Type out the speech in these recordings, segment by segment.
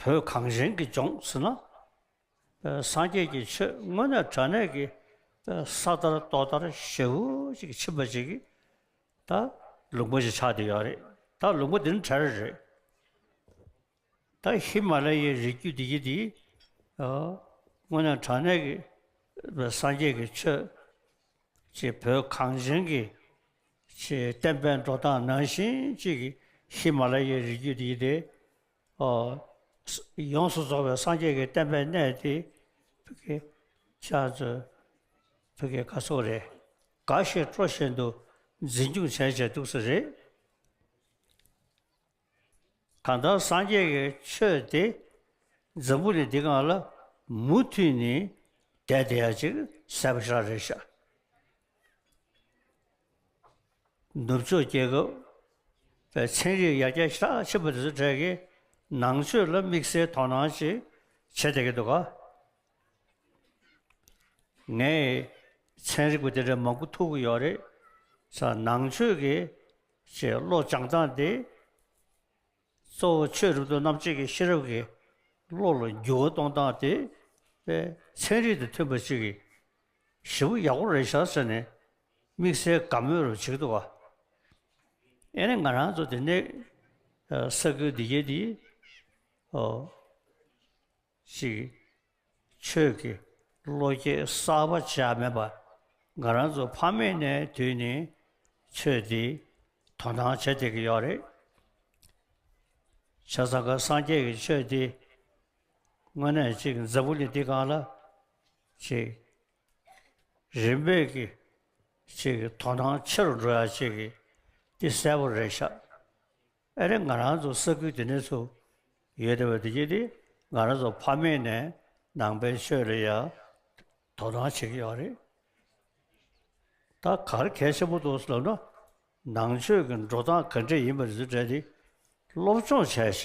བོད་གངས་ཅན་གྱི་ལྗོངས་སུ་ན། སངས་རྒྱས་ཀྱི་ཆོས་དངོས་གནས་དྲ་གནས་ཀྱི་ས་ལྟར་ཏོག་ལྟར་ཞེའུ་ཅིག་གི་ཕྱིན་པ་ཅིག་གིས་ད་ལུག་མགོ་ཞིག་ཆགས་འདི་ཡོད་རེད་ད་ལུག་མགོ་འདི་ནི་གྲལ་རེད་རེད། ད་ཧི་མ་ལ་ཡའི་རི་རྒྱུད་འདི་ཡི་འདི་དངོས་གནས་དྲ་གནས་ཀྱི་སངས་རྒྱས་ཀྱི་ཆོས། ཅེས་བོད་གངས་ཅན་གྱི་ཆེས་བརྟན་པའི་འགྲོ་སྟངས་ནང་བཞིན་གཅིག་གིས་ཧི་མ་ལ་ཡའི་རི་རྒྱུད་འདི་དེ། ཡོངས་སུ་རྫོགས་པའི་སངས་རྒྱས་ཀྱི་བསྟན་པའི་གནས་ཏེ། བོད་ཀྱི་སྐར་ཚོགས་རེ་འགའ་ཞིག་སྤྲོ་བཞིན་དུ་འཛིན་སྐྱོང་བྱས་བྱས་འདུག་ས་རེད། གང་ལྟར་སངས་རྒྱས་ཀྱི་ཆོས་དེ་འཛམ་བུ་ནས་འདི་གང་ལ་མུ་མཐུད་ནས་བསྡད་དེ་ཡང་ཅིག་གསལ་པོ་ཤར་རེ་ཤར། ནུབ་ཕྱོགས་རྒྱལ་ཁབ་པའི་ཚན་རིག་ཡར་རྒྱས་ཤག་ཆེན་པོ་དེ་ཚོ་གྲས་ཀྱིས་ནང་ཆོས་ལ་དམིགས་བསལ་དོ་སྣང་ཅིག་བྱེད་བསྡད་ཀྱི་འདུག་ག། ངས་ཚན་རིག་པ་དེ་འདྲ་མང་པོ་ཐུག་གི་ཡོད་རེད། ནང་ཆོས་ཀྱི། ཅེས་བློ་སྦྱངས་སྟངས་འདི་གཙོ་བོ་ཆོས་རིག་དོན་རྣམ་གཅིག་གི་ཤེས་རབ་ཀྱིས་བློ་ལ་འགྱུར་བ་གཏོང་སྟངས་དེ་པའི་ཚན་རིག་དང་མཐུན་པ་ཅིག་གིས་བཞི་པོ་ཡག་པོ་རེད་བཞག་ཟེར་ནས་དམིགས་བསལ་དགའ་མོས་རུ་བྱེད་འདུག་ཨ་ནི་ང་རང་ཚོ་དེ་ནས་ས་ཁུལ་འདི་རྒྱལ་འདིའི་གཅིག། ཆོས་ཀྱི་བློ་སྐྱེད་གསར་པ་བྱས་མེད་པ། ང་རང་ཚོ་ཕ་མེས་ནས་དུས་ནས་ཆོས་འདི་དོ་སྣང་བྱེད་བསྡད་ཀྱི་ཡོད་རེད། བྱས་ཙང་ཁ་སངས་རྒྱས་ཀྱི་ཆོས་འདི་དངོས་གནས་གཅིག་འཛམ་བུ་གླིང་འདི་གང་ལ་གཅིག་རིམ་པས་ཀྱི་གཅིག་དོ་སྣང་ཆེ་རུ་འགྲོ་ཡ་གཅིག་འདི་གསལ་པོ་རེད་ཤག་ཨེ་རེད་ང་རང་ཚོ་ས་ཁུལ་དེ་ནས་སུ་ཡོད་དེ་བས་དེ་རྗེས་དེ་ང་རང་ཚོ་ཕ་མེས་ནས་ནང་པའི་ཆོས་ལ་ཡང་དོ་སྣང་བྱེད་ཀྱི་ཡོད་རེད། ད་གར་གལ་ཆེན་པོ་འདུག་ཟེར་ན་ནང་ཆོས་ཀྱི་འགྲོ་སྟངས་ག་འདྲས་ཡིན་པ་རེད་ཟེར་དེ་སློབ་སྦྱོང་བྱས་བྱས་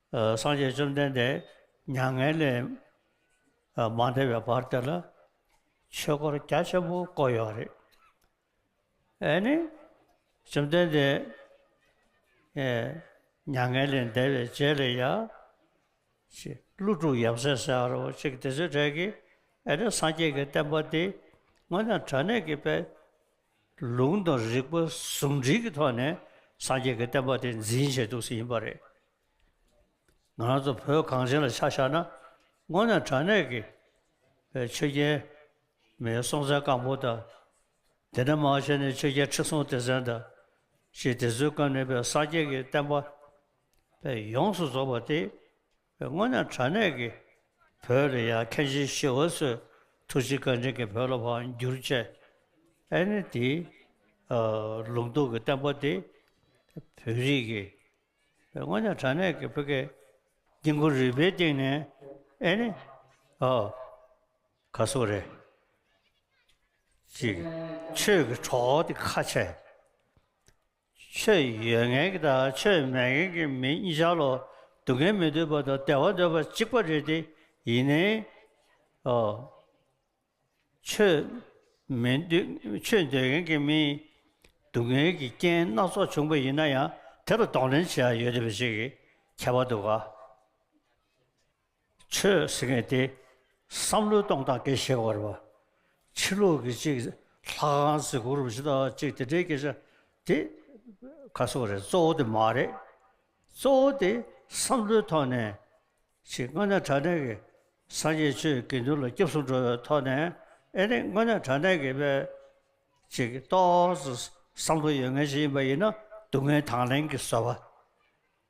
སངས་རྒྱས་བཅོམ་ལྡན་འདས་མྱ་ངན་ལས་མ་འདས་པའི་བར་དེ་ལ་ཆོས་སྐོར་རྒྱ་ཆེན་པོ་བསྐོར་ཡོད་རེད། ཨེ་ནི་བཅོམ་ལྡན་འདས་མྱ་ངན་ལས་འདས་པའི་རྗེས་ལས་ཡ་ཀླུ་དྲུག་ཡབ་སྲས་སེ་ཨ་རོ་གཅིག་དེ་ཚོའི་གྲས་ཀྱིས་ཨེ་ནི་སངས་རྒྱས་ཀྱི་བསྟན་པ་འདི་སྔོན་དང་དྲ་གནས་ཀྱི་པའི་ལུང་དང་རིགས་པ་ཟུང་འབྲེལ་གྱི་ཐོག་ནས་སངས་རྒྱས་ཀྱི་བསྟན་པ་དེ་འཛིན་བྱེད་ཐུབ་ས་ཡིན་པ་རེད། ང་རང་ཚོ་བོད་གངས་ཅན་ལ་ཆ་བཞག་ན་སྔོན་ནས་དྲང་གནས་ཀྱི་བའི་ཆོས་རྒྱལ་མའི་སྲོང་བཙན་སྒམ་པོ་དང། དེ་ནས་མང་ཆེ་ནས་ཆོས་རྒྱལ་ཁྲི་སྲོང་ལྡེ་བཙན་དང་བཞི་དེ་ཚོའི་སྐབས་ནས་བའི་སངས་རྒྱས་ཀྱི་བསྟན་པ་བས་ཡོངས་སུ་རྫོགས་པ་སྟེ། སྔོན་ནས་དྲ་གནས་ཀྱི་བོད་རེ་ཡ་མཁན་ཆེན་ཤི་བ་སོས་ཐུགས་རྗེ་བཀའ་དྲིན་གྱི་བོད་ལ་བ་འགྱུར་བཅས་ཨེ་ནི་དེའི་ལུང་རྟོགས་ཀྱི་བསྟན་པ་དེ་བོད་རིགས་ཀྱི་སྔོན་ནས་དྲ་གནས་ཀྱི་བོད་སྐད་དཀྱིལ་འཁོར་རིག་པའི་སྟེང་ནས་ཨེ་ནི་ག་སོགས་རེད། ཅེས་ཆོས་ཀྱི་གྲོགས་དེ་ཁ་ཆེ། ཆོས་ཡོད་མཁན་གྱི་དང་ཆོས་མེད་མཁན་གྱི་མི་གཉིས་ཆར་ལོ་སྡུག་མཁན་མི་འདོད་པ་དང་བདེ་བ་འདོད་པ་གཅིག་པ་རེད་དེ་ཡིན་ནའི་ཨོ། ཆོས་མི་འདོད་ཆོས་འདོད་མཁན་གྱི་མིས་སྡུག་བསྔལ་གྱི་རྐྱེན་སྣ་ཚོགས་བྱུང་པ་ཡིན་ན་ཡང་དེ་ལ་གདོང་ལེན་བྱེད་ཡ་ཡོད་རེད་པ་ཞིག་གི་ཁྱད་པར་འདུག་ག། ཆོས་ཟེར་མཁན་དེ་བསམ་བློའི་སྟོང་སྟངས་འགའི་ཤེས་བར་བ། ཕྱི་ལུགས་ཀྱི་གཅིག་ལྷ་ཁང་གཟི་གུར་རུ་བཞི་དང་གཅིག་དེ་འདྲའི་སྐད་ཆ་དེ་ཁ་སོ་རེད་གཙོ་བོ་དེ་མ་རེད། གཙོ་བོ་དེ་བསམ་བློའི་ཐོག་ནས་ཕྱི་དངོས་གནས་དྲ་གནས་ཀྱི་སངས་རྒྱས་ཆོས་དགེ་འདུན་ལ་སྐྱབས་སུ་འགྲོ་བའི་ཐོག་ནས་ཨེ་རེད་དངོས་གནས་དྲ་གནས་ཀྱི་བའི་ཅིག་གཏོགས་སུ་བསམ་བློ་ཡོད་མཁན་ཞིག་ཡིན་པ་ཡིན་ན་སྡུག་བསྔལ་དང་ལེན་གྱི་བཟོད་པ་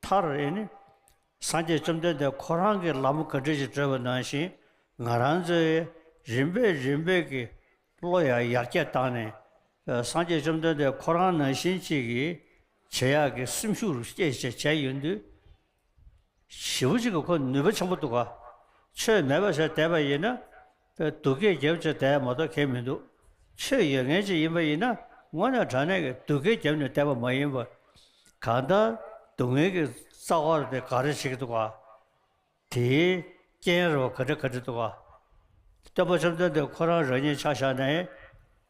མཐར་ཨེ་ནི། སངས་རྒྱས་བཅོམ་ལྡན་འདས་ཁོ་རང་གིས་ལམ་ག་འདྲས་ཀྱིས་བགྲོད་པ་ནང་བཞིན་ང་རང་ཚོའི་རིམ་པས་རིམ་པས་ཀྱི་བློ་ཡང་ཡར་རྒྱས་བཏང་ནས། སངས་རྒྱས་བཅོམ་ལྡན་འདས་ཁོ་རང་ནང་བཞིན་གཅིག་གི་བྱེད་ཡག་གི་སེམས་ཤུགས་རུ་སྐྱེད་བྱས་བྱས་ཡོད་དུས། བྱིས་པ་གཅིག་གིས་ཁོ་ནུས་པ་ཆེན་པོ་འདུག་ག། ཆོས་མེད་པ་ཟེར་བསྡད་པ་ཡིན་ན། སྡུག་སྐད་རྒྱབ་ཆེ་དད་མ་གཏོགས་མཁན་མི་འདུག་ཆོས་ཡོད་ངེས་ཅན་ཡིན་པ་ཡིན་ན་སྔོན་ནས་དྲང་གནས་ཀྱི་སྡུག་སྐད་རྒྱབ་ནས་བསྡད་པ་མ་ཡིན་པར། གང་ལྟར་སྡུག་བསྔལ་གྱི་རྩ་བར་དེ་ག་རེ་བྱེད་ཀྱི་འདུག་ག་དེའི་རྐྱེན་རེད་བ་ག་དྲི་ག་དྲི་འདུག་ག། སྟོན་པ་བཅོམ་ལྡན་འདས་ཁོ་རང་རང་ཉིད་ཕྱག་བཞག་ནས།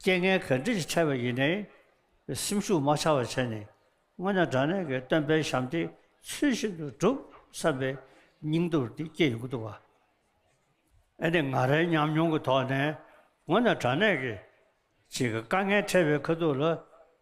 རྐྱེན་ངན་ག་འདྲས་ཀྱིས་ཕྲད་པ་ཡིན་ནའི། སེམས་ཤུགས་མ་ཆགས་པར་བྱས་ནས། སྔོན་ནས་དྲང་གནས་ཀྱི་སྟོན་པའི་ཞབས་འདེགས་ཚུལ་བཞིན་དུ་བསྒྲུབ་བསམ་པའི་སྙིང་སྟོབས་དེ་སྐྱེས་ཡོང་གི་འདུག་བ། ཨ་ནི་ང་རའི་ཉམས་མྱོང་གི་ཐོག་ནས། སྔོན་ནས་དྲང་གནས་ཀྱིས། ཅིག་དཀའ་ངལ་འཕྲད་པའི་ཁ་ཐུག་ལ།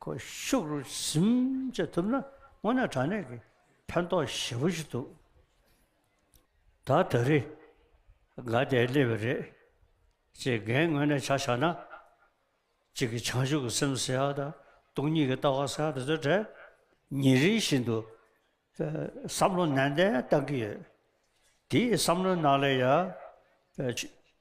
ཁོ་ཤུགས་རུ་གཟིམ་བྱེད་ཐུབ་ན་དངོས་གནས་དྲང་གནས་ཀྱི་ཕན་ཐོགས་ཞེ་པོ་ཞིག་འདུག་ད་ད་རེས་དགའ་བདེས་སླེབས་པ་རེད། ཅེས་འགན་དངོས་གནས་ཆ་བཞག་ན། གཅིག་གིས་བྱང་ཆུབ་ཀྱི་སེམས་ཟེར་བ་དང་སྟོང་ཉིད་ཀྱི་ལྟ་བ་ཟེར་བ་དེ་ཚོའི་གྲས་ཉིན་རེ་བཞིན་དུ་བསམ་བློ་ནན་ཏན་བཏང་གི་ཡོད། དེའི་བསམ་བློའི་ནང་ལས་ཡ།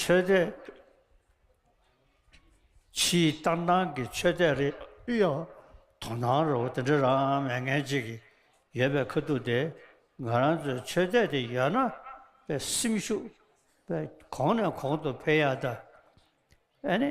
ཆོས་དད། ཕྱིའི་ལྟར་སྣང་གི་ཆོས་དད་རེད། དབུས་ཡོད་དོ་སྣང་རོགས་དེ་འདྲ་རང་མལ་ངན་གཅིག་གིས་ཡོད་པའི་ཁ་ཐུག་དེ་ང་རང་ཚོའི་ཆོས་དད་དེ་ཡོད་ན་པའི་སེམས་ཤུགས་པས་གོང་ནས་གོང་དུ་འཕེལ་ཡ་ད། ཨ་ནི།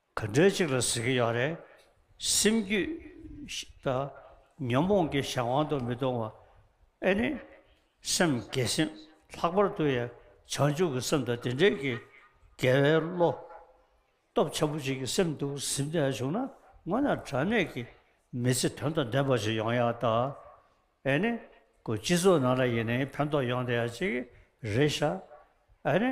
ག་འདྲའི་གཅིག་ལ་ཟེར་གྱི་ཡོད་རེད། སེམས་རྒྱུད་དང། ཉོན་མོངས་ཀྱི་གཞན་དབང་དུ་མི་གཏོང་བ། ཨེ་ནི། སེམས་བརྒྱད་སེམས་ལྷག་པར་དུ་ཡང་བྱང་ཆུབ་ཀྱི་སེམས་དང་དེ་འབྲེལ་གྱི་དགེ་བའི་བློ། སྟོབས་ཆེན་པོ་ཅན་གྱི་སེམས་དུ་གཟིམས་ནས་བྱུང་ན་སྔོན་ན་དྲང་གནས་ཀྱི་མི་ཚེ་དོན་དང་ལྡན་པ་ཞིག་ཡོང་ཡག་ད། ཨེ་ནི། ཀུན་སྤྱི་ཚོགས་ནང་ལ་ཡིན་ནའི་ཕན་ཐོགས་ཡོང་དེ་ཡག་ཅིག་རེད་ཤག། ཨེ་ནི།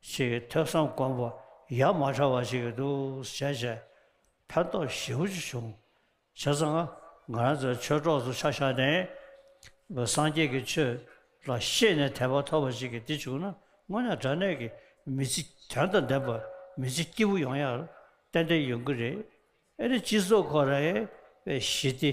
ཞེས་ཐོས་བསམ་སྒོམ་པ་ཡར་མར་ཕྲ་བ་ཞིག་འདུག་བྱས་བྱས་ཕན་ཐོགས་ཞེ་བོ་ཅིག་བྱུང། བྱས་ཙང་ང་རང་ཚོ་ཆོས་གྲོགས་ཚོ་ཆ་བཞག་ནས། སངས་རྒྱས་ཀྱི་ཆོས་ལ་ཤེས་ནས་དད་པ་ཐོབ་པ་ཞིག་གིས་འདི་བྱུང་ན་དངོས་གནས་དྲ་གནས་ཀྱི་མི་ཚེ་དོན་དང་ལྡན་པ་མི་ཚེ་སྐྱིད་པོ་ཡོང་ཡག་ཏན་ཏན་ཡོང་གི་རེད། ཨེ་རེད་སྤྱི་ཚོགས་ཁོ་རེ་བའི་ཞི་བདེ་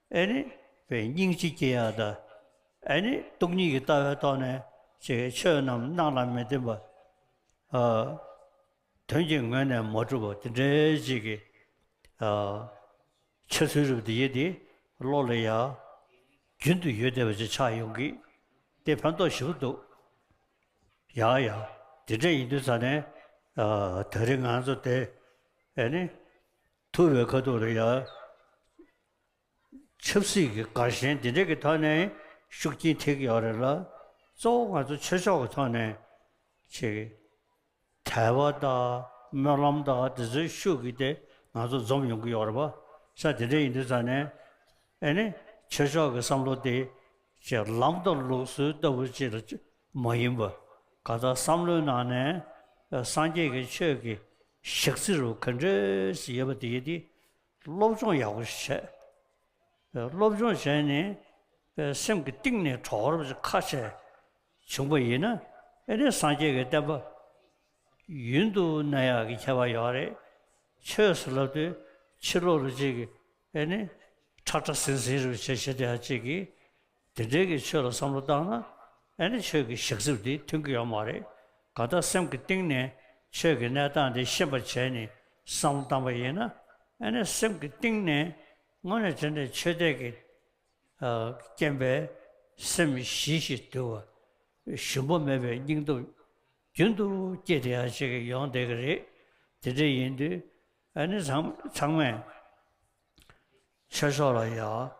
ཨེ་ནི་བས་སྙིང་རྗེ་སྐྱེ་ཡག་ད། ཨེ་ནི་སྟོང་ཉིད་ཀྱི་ལྟ་བའི་ཐོག་ནས་ཅི་ཆོས་རྣམས་སྣང་ལ་མི་བརྟེན་པ། དོན་གྱི་ངོས་ནས་མ་གྲུབ་པ་དེ་འདྲའི་རྗེས་ཀྱི་འཆལ་ཚུལ་རིགས་འདི་ཡིད་དེ་བློ་ལ་ཡ། རྒྱུན་དུ་ཡོད་བསྡད་པ་ཅིག་ཆགས་ཡོང་གི། དེ་ཕན་ཐོགས་ཞིབ་འདུག་ཡ་ཡ། དེ་འདྲ་ཡིན་དུས་ད་ནས་ད་རེས་ང་ཚོ་དེ་ཨེ་ནི་ཐུ་བའི་ཁ་ཐུག་ལ་ཡ། ཆབ་སྲིད་ཀྱི་དགའ་ཞེན་འདི་འདྲ་གི་ཐོག་ནས་ཤུགས་རྐྱེན་ཐེབས་ཀྱི་ཡོད་རེད་ལ། གཙོ་བོ་ང་ཚོ་ཆོས་ཕྱོགས་ཀྱི་ཐོག་ནས་ཆེ་གི། དལ་བ་དང་སྨོན་ལམ་དང་དེ་ཚོའི་ཤུགས་ཀྱིས་དེ་ང་ཚོ་འཛོམས་ཡོང་གི་ཡོད་རེད་པ། ས་དེ་འདྲ་ཡིན་དུས་ཙང་ནས་ཨེ་ནི་ཆོས་ཕྱོགས་ཀྱི་བསམ་བློ་དེ་ཆེ་ལམ་དང་ལུགས་སྲོལ་ལྟ་བུ་ཅིག་ལ་མ་ཡིན་པར། གང་ལྟར་བསམ་བློའི་ནང་ནས་སངས་རྒྱས་ཀྱི་ཆོས་ཀྱི་ཞག་རྩི་རུ་ག་འདྲ་ཞིག་ཡོད་པ་དེ་ཡིན་དུས། སློབ་སྦྱོང་ཡག་པོ་ཞིག་བྱས། སློབ་སྦྱོང་བྱས་ནས་སེམས་ཀྱི་གཏིང་ནས་གྲོགས་རབ་ཀྱི་ཁ་ཆད་བྱུང་པ་ཡིན་ན་ཨེ་རེད་སངས་རྒྱས་ཀྱི་བསྟན་པ་ཡུན་དུ་གནས་ཡག་གི་ཁྱད་པར་ཡོད་རེད་ཆོས་སུ་ལབ་དུས་ཕྱི་ལོག་རུ་གཅིག་གིས་ཨེ་ནི་ཁྲག་ཁྲག་ཟིང་ཟིང་རུ་བྱེད་བྱེད་དེ་ཡང་གཅིག་གིས་དེ་འབྲེལ་གྱི་ཆོས་ལ་བསམ་བློ་བཏང་ན་ཨེ་ནི་ཆོས་ཀྱི་ཞག་རྩིབས་འདི་མཐུན་གྱི་ཡོད་མ་རེད་ག་ད་སེམས་ཀྱི་གཏིང་ནས་ཆོས་ཀྱི་གནས་སྟངས་འདི་ཤེས་པར་བྱས་ནས་བསམ་བློ་བཏང་པ་ཡིན་ན་ཨེ་ནི་སེམས་ཀྱི་གཏིང་ནས་དངོས་གནས་དྲན་ནས་ཆོས་དད་ཀྱི་རྐྱེན་པས་སེམས་ཞི་ཞིང་དུལ་བ་ཞུམ་པ་མེད་པའི་སྙིང་སྟོབས་རྒྱུན་དུ་བསྐྱེད་དེ་ཡང་བྱེད་ཀྱི་ཡོང་བསྡད་ཀྱི་རེད་དེ་འདྲ་ཡིན་དུས་ཨེ་ནི་ཚང་མས་ཆོས་ཕྱོགས་ལ་ཡང།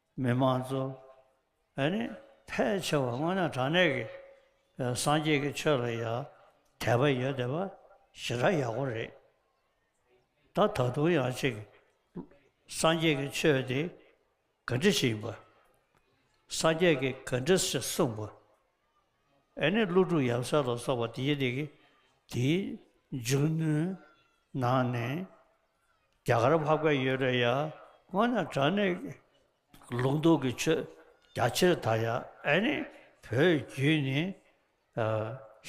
མི་མང་ཚོ་ཨ་ནི་ཕལ་ཆེ་བ་སྔོན་ན་དྲང་གནས་ཀྱི་སངས་རྒྱས་ཀྱི་ཆོས་ལ་ཡ་དད་པ་ཡོད་དེ་བ་ཞེ་དྲག་ཡག་པོ་རེད་ད་ད་དུང་ཡང་ཅིག་སངས་རྒྱས་ཀྱི་ཆོས་དེ་ག་འདྲི་ཞིག་ཡིན་པ་སངས་རྒྱས་ཀྱི་ག་འདྲི་ཞིག་གསུངས་པ་ཨ་ནི་ཀླུ་སྒྲུབ་ཡབ་སྲས་ལ་སོགས་པ་དེའི་དེ་གི་དེའི་འཇུག་ནུས་ནང་ནས་རྒྱ་གར་བྷ་ག་ཡོད་རེད་ཡ། ཁོང་ན་དྲ་ནས་ལུགས་འདུག་གི་ཆོས་རྒྱ་ཆེར་དར་ཡ་ཨེ་ནི་བོད་བརྒྱུད་ནི་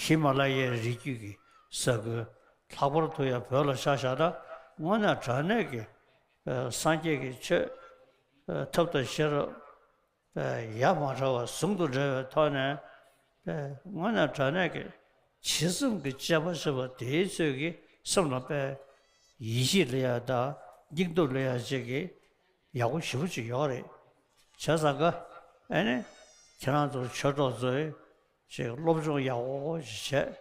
ཧི་མ་ལ་ཡའི་རི་རྒྱུད་གི་ས་ཁུལ་ལྷག་པར་དུ་ཡ་བོད་ལ་ཆ་བཞག་ན་སྔོན་ན་དྲ་ནས་གི་སངས་རྒྱས་གི་ཆོས་ཐབས་དང་ཤེས་རབ་ཡར་མར་ཕྲ་བ་ཟུང་དུ་འབྲེལ་བའི་ཐོག་ནས། སྔོན་ནས་དྲ་གནས་ཀྱི་བྱེད་རྩོམ་གྱི་དཔྱད་པ་བྱེད་པ་དེའི་ཚོད་ཀྱིས་སེམས་ལ་དཔེ་ཡིད་ཆེས་ལས་ཡག་དང་སྙིང་སྟོབས་ལས་ཡག་ཅིག་གི་ཡག་པོ་ཞིབ་པོ་ཅིག་ཡོད་རེད། བྱས་ཙང་དགའ། ཨེ་ནས་ཁྱེད་རང་ཚོར་ཆོས་གྲོགས་ཚོས་ཅིག་སློབ་སྦྱོང་ཡག་པོ་ཞིག་བྱས།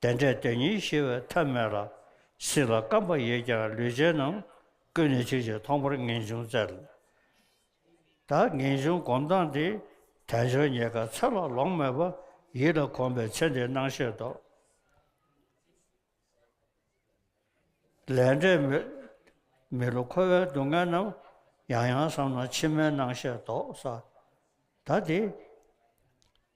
བདེན་བྲལ་དེ་ཉིད་ཤེས་པའི་ཐབས་མེད་ལ། སྲིད་ལ་བརྐམ་པ་ཡོད་ཀྱང་ལུས་ཅན་རྣམས། ཀུན་ནས་ཆོས་ཀྱི་མཐོང་པར་ངེས་འབྱུང་བཙལ། ད་ངེས་འབྱུང་སྒོམ་སྟངས་འདི། དལ་འབྱོར་ཉེས་དགའ་ཚེ་ལ་ལོངས་མེད་པ། ཡིད་ལ་གོམས་པའི་ཚེ་འདི་སྣང་ཤེས་རྟོག། ལས་འབྲས་མི་བསླུ་འཁོར་བའི་སྡུག་བསྔལ་རྣམས། ཡང་ཡང་བསམ་ན་ཕྱི་མའི་སྣང་ཤེས་རྟོག། ས་ད་འདི།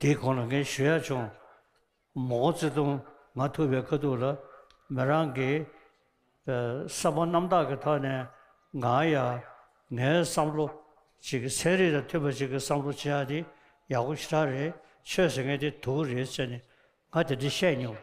དེའི་གོང་ལ་ངས་ཞུ་ཡག་བྱུང། མོ་ཀོ་ཙེ་ཏུང་ང་ཐུབ་པའི་དཀའ་སྡུག་ལ་མོ་རང་གིས་བསམ་པ་རྣམ་དག་གི་ཐོག་ནས་ང་ཡ་ངའི་བསམ་བློ་ཅིག་ཚན་རིག་དང་མཐུན་པ་ཅིག་གི་བསམ་བློ་ཅི་ཡག་དེ་ཡག་པོ་ཞེ་དྲག་རེད་ཆོས་ཟེར་མཁན་དེ་དུག་རེད་ཟེར་ནས་ང་དེ་འདྲ་བཤད་མྱོང།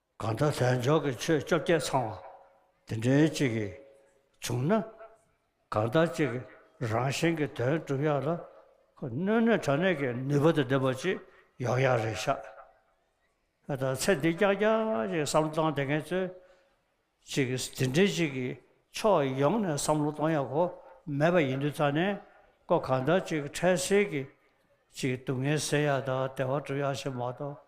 གང་ལྟར་དལ་འབྱོར་གྱི་ཆོས་བཅོ་བརྒྱད་ཚང་བ་དེ་འདྲའི་གཅིག་གིས་བྱུང་ན། གང་ལྟར་གཅིག་གིས་རང་བཞིན་གྱི་དོན་བསྒྲུབ་ཡག་ལ། སྣོད་ནུས་དྲང་གནས་ཀྱི་ནུས་པ་དང་ལྡན་པ་ཅིག་ཡོང་ཡག་རེད་ཤག། ད་ཚེ་འདི་སྐྱག་སྐྱག་ཅིག་བསམ་བློ་བཏང་བསྡད་མཁན་ཚོས་ཅིག་དེ་འདྲའི་ཅིག་གིས་ཕྱོགས་ཡོངས་ནས་བསམ་བློ་གཏོང་ཡག་གོ་མེད་པ་ཡིན་དུས་ཚང་ནས་ཀོ་གང་ལྟར་ཅིག་འཕྲལ་སེལ་གྱིས་ཅིག་སྡུག་བསྔལ་སེལ་ཡག་དང་བདེ་བ་སྒྲུབ་ཡག་ཞེས་མ་གཏོགས།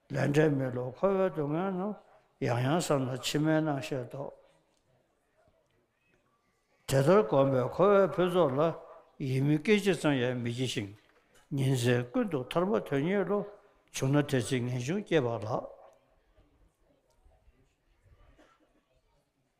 ལས་འབྲས་མེད་ལོ་འཁོར་བའི་སྡུག་བསྔལ་རྣམས། ཡང་ཡང་བསམ་ན་ཕྱི་མའི་སྣང་ཤས་རྟོགས། དེ་ལྟར་བསྒོམས་པས་འཁོར་བའི་ཕུན་ཚོགས་ལ། ཡིད་མི་སྐྱེ་སྤྱི་ཙམ་ཡང་མི་སྐྱེ་ཞིང། ཉིན་མཚན་ཀུན་ཏུ་ཐར་པ་དོན་གཉེར་ལོ། བྱུང་ན་དེ་ཚེ་ངེས་འབྱུང་སྐྱེས་པ་ལགས།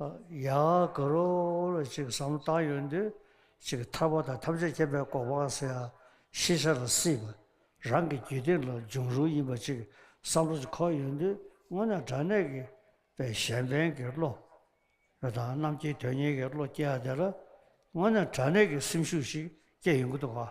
ཡང་དག་རོ་གཅིག་ཟམ་གཏང་ཡོད་འདུན་གཅིག་ཐར་པ་དང་ཐམས་ཅད་མཁྱེན་པའི་གོ་འཕང་སེང་ཤེས་བྱ་ལ་སྲིད་པ་རང་གི་རྒྱུད་སྡེ་ལ་འབྱུང་རུང་ཡིན་པ་གཅིག་བསམ་བློ་གཅིག་འཁོར་ཡོད་འདུན་སྔོན་ན་དྲང་གནས་ཀྱི་པའི་གཞན་ཕན་གྱི་བློ་རེ་དང་རྣམ་མཁྱེན་དོན་གཉེར་གྱི་བློ་སྐྱེ་བ་དེ་ལ་སྔོན་ན་དྲང་གནས་ཀྱི་སེམས་ཤུགས་ཤིག་སྐྱེ་ཡོང་གི་འདུག་ག།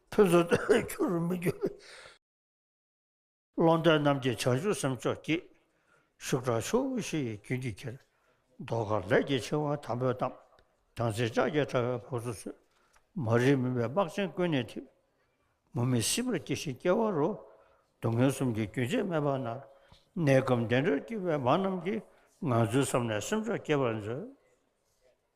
ཕུན་སུམ་ཚོགས་ཁྱུང་རུ་མི་འགྱུར་བའི། ཀློང་རྡལ་རྣམ་རྒྱལ་བྱང་ཆུབ་སེམས་མཆོག་སྐྱེད། ཤུགས་དྲག་ཕྱོགས་དབུས་བཞི་ཡི་རྒྱུན་གྱིས་ཁྱེར། མདོག་དཀར་ལས་ཀྱི་ཆེ་བ་དམ་པོས་གཏམས། དམ་ཚིག་ལྕགས་ཀྱི་དྲ་བས་ཕོག་ཚུལ་མཛོད། མ་རིག་མུན་པའི་སྨག་ཆེན་ཀུན་ནས་འཐིབས། མུ་མེད་སྲིད་པར་སྐྱེ་ཤི་སྐྱེ་བ་རུ། སྡུག་བསྔལ་གསུམ་གྱི་རྒྱུན་ཆད་མེད་པར་མནར། གནས་སྐབས་བདེ་འགྲོར་སྐྱེས་པའི་མ་རྣམས་ཀྱིས། ངང་ཚུལ་བསམས་ནས་སེམས་མཆོག་སྐྱེད་པར་མཛོད།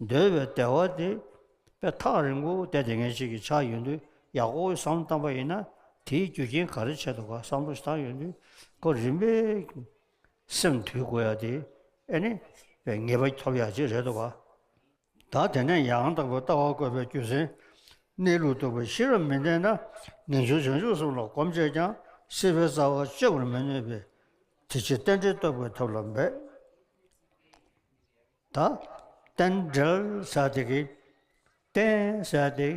འདོད་པའི་བདེ་བ་དེ་པའི་ཐག་རིང་པོ་བལྟས་ཏེ་ངེས་བྱེད་ཀྱི་ཆ་ཡོད་དུས་ཡག་པོ་བསམ་བློ་བཏང་པ་ཡིན་ན་དེའི་རྒྱུ་རྐྱེན་ག་རེ་བྱས་འདུག་ག་བསམ་བློ་བཏང་ཡོད་དུས་གོ་རིམ་པས་སེམས་དུལ་དགོས་ཡ་དེ་ཨེ་ནི་བའི་ངེས་པ་ཐོབ་ཡག་ཅིག་རེད་འདུག་ག་ད་དེ་ནས་ཡང་དག་པའི་ལྟ་བ་བཀོད་པའི་རྒྱུ་མཚན་གནས་ལུགས་རྟོགས་པའི་ཤེས་རབ་མི་ལྡན་ན་ངེས་འབྱུང་བྱང་ཆུབ་གསུམ་ལ་གོམས་བྱས་ཀྱང་སྲིད་པའི་རྩ་བ་གཅོད་པར་མི་ནུས་པས་དེ་ཕྱིར་རྟེན་འབྲེལ་རྟོགས་པའི་ཐབས་ལ་འབད། ད་རྟེན་འབྲེལ་ཟ་དེ་གི། རྟེན་ཟ་དེ།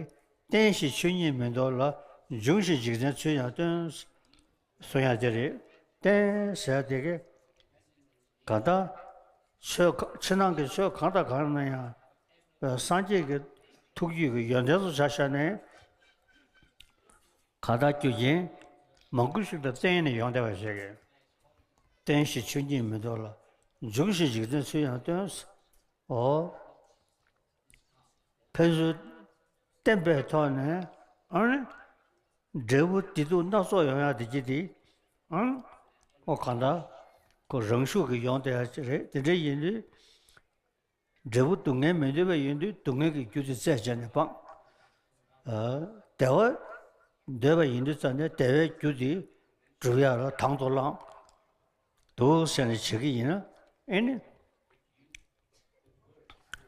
རྟེན་ཞེས་ཆོས་ཉིད་མི་འདོར་ལ། འབྱུང་ཞེས་འཇིག་རྟེན་ཚུལ་ཡང་སྟོན། གཟུང་ཡང་དེ་རེད། རྟེན་ཟ་དེ་གི། གང་ལྟར། ཆོས་ཕྱི་ནང་གི་ཆོས་གང་དང་གང་ན་ཡང། སངས་རྒྱས་ཀྱི་ཐུགས་རྒྱུད་ཀྱི་ཡོན་ཏན་སོགས་བྱ་བཞག་ནས། གང་དག་རྒྱུ་རྐྱེན་མང་པོ་ཞིག་ལ་བརྟེན་ནས་ཡོང་བསྡད་པ་ཞིག་རེད། སྟོན་ཞིག་ཆོས་ཉིད་མི་འདོར་ལ། འཇུག་ཞིག་འཇིག་རྟེན་ཚུལ་ཡང་སྟོན། ཨོ། ཕན་ཚུན་བསྟན་པའི་ཐོག་ནས་ཨང། འབྲས་བུ་བདེ་སྡུག་སྣ་ཚོགས་ཡོང་ཡང་དེ་ཀྱི་དེ་ཨང། ཨོ་གང་དག། རང་ཤུགས་ཀྱིས་ཡོང་དེ་ཡང་རེད་དེ་འདྲ་ཡིན་དུས། འབྲས་བུ་སྡུག་བསྔལ་མི་འདོད་པའི་ཡུལ་འདུས་སྡུག་བསྔལ་གྱི་རྒྱུ་དེ་རྩད་བཅད་ནས་སྤངས། བདེ་བ་འདོད་པའི་ཡུལ་འདུས་རྩ་ནས་བདེ་བའི་རྒྱུ་དེ་བསྒྲུབ་ཡ་ལ་དང་དུ་བླང། དུ་ཟེར་ནས་བྱེད་ཀྱི་ཡིན་ན་ཨེ་ནི།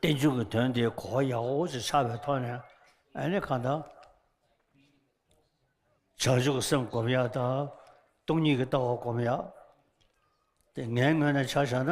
བསྟན་བཅོས་ཀྱི་དོན་དེ་གོ་བ་ཡག་པོ་ཅིག་ཆགས་པའི་ཐོག་ནས་ཨེ་ནི་གང་དང། བྱང་ཆུབ་ཀྱི་སེམས་བསྒོམ་ཡ་དང་སྟོང་ཉིད་ཀྱི་ལྟ་བ་བསྒོམ་ཡ། དེ་ངའི་ངོས་ནས་ཆ་བཞག་ན་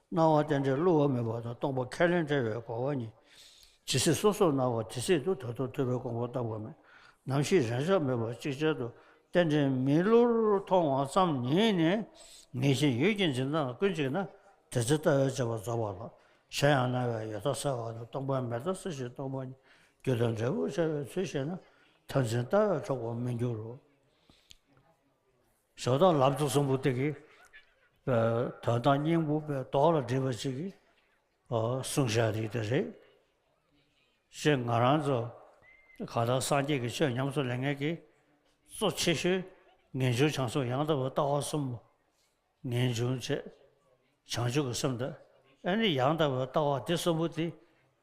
སྣང་བ་རྟེན་འབྲེལ་བསླུ་བ་མེད་པ་དང་སྟོང་པ་ཁས་ལེན་བྲལ་བའི་གོ་བ་ཉིད། ཇི་སྲིད་སོ་སོར་སྣང་བ་དེ་སྲིད་དུ་ད་དུང་ཐོས་པའི་དགོངས་པ་བརྟག་པ་མེད། ནམ་ཞིག་རང་ཅག་མེད་པར་གཅིག་ཅར་དུ་རྟེན་འབྲེལ་མི་བསླུར་མཐོང་བ་ཙམ་ཉིད་ནི། ངེས་ཤེས་ཡུལ་གྱི་འཛིན་སྟངས་ཀུན་གཅིག་ན། དེ་ཚེ་ལྟ་བའི་བྱ་བ་རྫོགས་པ་ལ། གཞན་ཡང་སྣང་བའི་ཡོད་མཐའ་གསལ་བ་དང་སྟོང་པའི་མེད་མཐའ་གསལ་ཞིང་སྟོང་པ་ཉིད་རྒྱུ་དང་འབྲས་བུར་འཆར་བའི་ཚུལ་ཤེས་ན། མཐར་འཛིན་ལྟ་བས་འཕྲོག་པར་མི་འགྱུར་རོ། ཞོ་དང་ལབ་ཙེ་གསུམ་པོ་དེ་གི་དོན་དང་སྙིང་པོ་པའི་དོགས་ལ་སྒྲིབ་པ་ཅིག་གིས་གསུང་བཤད་རིགས་དེ་རེད་ཞེས་ང་རང་ཚོ་ག་ལ་སངས་རྒྱས་ཀྱི་ཆོས་ཉམས་སུ་ལེན་མཁན་གྱི་གཙོ་ཆེ་ཤོས་ངེས་འབྱུང་བྱང་སོགས་ཡང་དག་པའི་ལྟ་བ་གསུམ་མོ། ངེས་འབྱུང་བཅས་བྱང་ཆུབ་ཀྱི་སེམས་དང་ཨེ་ནི་ཡང་དག་པའི་ལྟ་བ་འདི་གསུམ་པོ་དེ།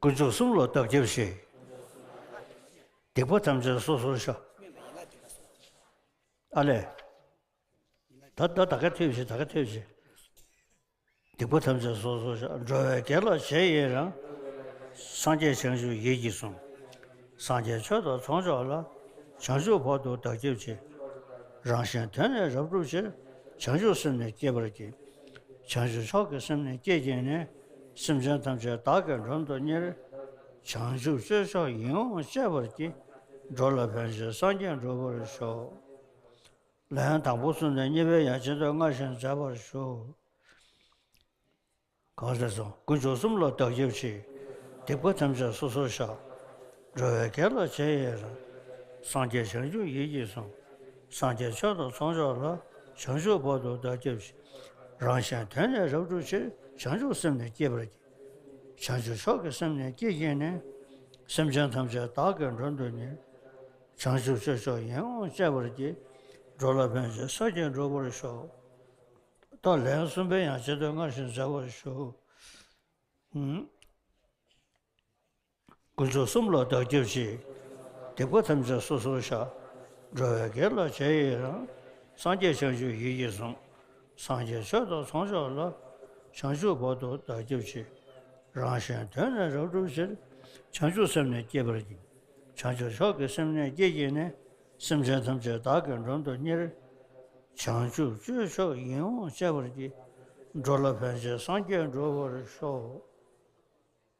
དཀོན་མཆོག་གསུམ་ལ་བདག་སྐྱབས་ཤིག། སྡིག་པ་ཐམས་ཅད་སོ་སོར་ཤོག། ཨ་ལས། ད་ད་ད་ག་ཐོས་ཤིག་ད་ག་ཐོས་ཤིག། སྡིག་པ་ཐམས་ཅད་སོ་སོར་ཤོག་འགྲོ་བའི་དགེ་ལ་བྱེད་ཡིན་རང། སངས་རྒྱས་བྱང་ཆུབ་ཡིད་ཀྱིས་བཟུང། སངས་རྒྱས་ཆོས་དང་ཚོགས་མཆོག་ལ། བྱང་ཆུབ་བར་དུ་བདག་སྐྱབས་ཤིག། རང་གཞན་དོན་ནི་རབ་བསྒྲུབ་ཕྱིར། བྱང་ཆུབ་སེམས་ནི་བསྐྱེད་པར་གྱིས། བྱང་ཆུབ་མཆོག་གི་སེམས་ནི་བསྐྱེད་ཀྱིས་ནི། སེམས་ཅན་ཐམས་ཅད་བདག་གི་མགྲོན་དུ་གཉེར། བྱང་ཆུབ་སྤྱོད་མཆོག་ཡིད་འོང་སྤྱད་པར་བགྱི། འགྲོ་ལ་ཕན་བྱེད་སངས་རྒྱས་འགྲུབ་པར་ཤོག། ལན། དང་པོ་གསུམ་ནས་གཉིས་པའི་ཡང་སྤྱི་མདོས་སྔར་བཞིན་མཛད་པར་ཞུ། གང་ཟག་ཚོགས་ཀུན་སྦྱོར་གསུམ་ལ་བདག་སྐྱབས་མཆི། སྡིག་པ་ཐམས་ཅད་སོ་སོར་བཤགས། འགྲོ་བའི་དགེ་ལ་བྱས་ཡིན་རུང། སངས་རྒྱས་བྱང་ཆུབ་ཡིད་ཀྱིས་བཟུང། སངས་རྒྱས་མཆོག་དང་ཚོགས་མཆོག་ལ། བྱང་ཆུབ་བར་དུ་བདག་སྐྱེ་བཞི། རང་གཞན་དོན་ནི་རབ་བསྒྲུབ་ཕྱིར། བྱང་ཆུབ་སེམས་ནི་བསྐྱེད་པར་གྱིས། བྱང་ཆུབ་མཆོག་གི་སེམས་ནི་བསྐྱེད་ཀྱིས་ནི། སེམས་ཅན་ཐམས་ཅད་བདག་གི་མགྲོན་དུ་ཉོན། བྱང་ཆུབ་སྤྱོད་མཆོག་ཡིད་འོང་སྤྱད་པར་གྱིས། འགྲོ་ལ་ཕན་བྱེད་ས་བརྒྱད་འགྲུབ་པར་ཤོག། ད་ལན་གསུམ་པའི་ཡང་སྤྱི་བསྟོད་སྔར་བཞིན་མཛད་པར་ཞུ། དགུན་ཚོགས་གསུམ་ལ་བདག་སྐྱབས་ཤིག། སྡིག་པ་ཐམས་ཅད་སོ་སོར་བཤགས། འགྲོ་བའི་དགེ་ལ་བྱས་ཡི་རང། སངས་རྒྱས་བྱང་ཆུབ་ཡིད་ཀྱིས་བཟུང། སངས་རྒྱས་ཆོས་དང་ཚོགས་མཆོག་ལ། བྱང་ཆུབ་བར་དུ་བདག་སྐྱབས་ཤིག། རང་གཞན་དོན་ནི་རབ་སྒྲུབ་ཕྱིར། བྱང་ཆུབ་སེམས་ནི་བསྐྱེད་པར་གྱིས། བྱང་ཆུབ་མཆོག་གི་སེམས་ནི་བསྐྱེད་ཀྱིས་ནི། སེམས་ཅན་ཐམས་ཅད་བདག་གི་མགྲོན་དུ་གཉེར། བྱང་ཆུབ་སྤྱོད་མཆོག་ཡིད་འོང་སྤྱད་པར་གྱིས། འགྲོ་ལ་ཕན་བྱེད་སངས་རྒྱས་འགྲོ་བར་ཤོག།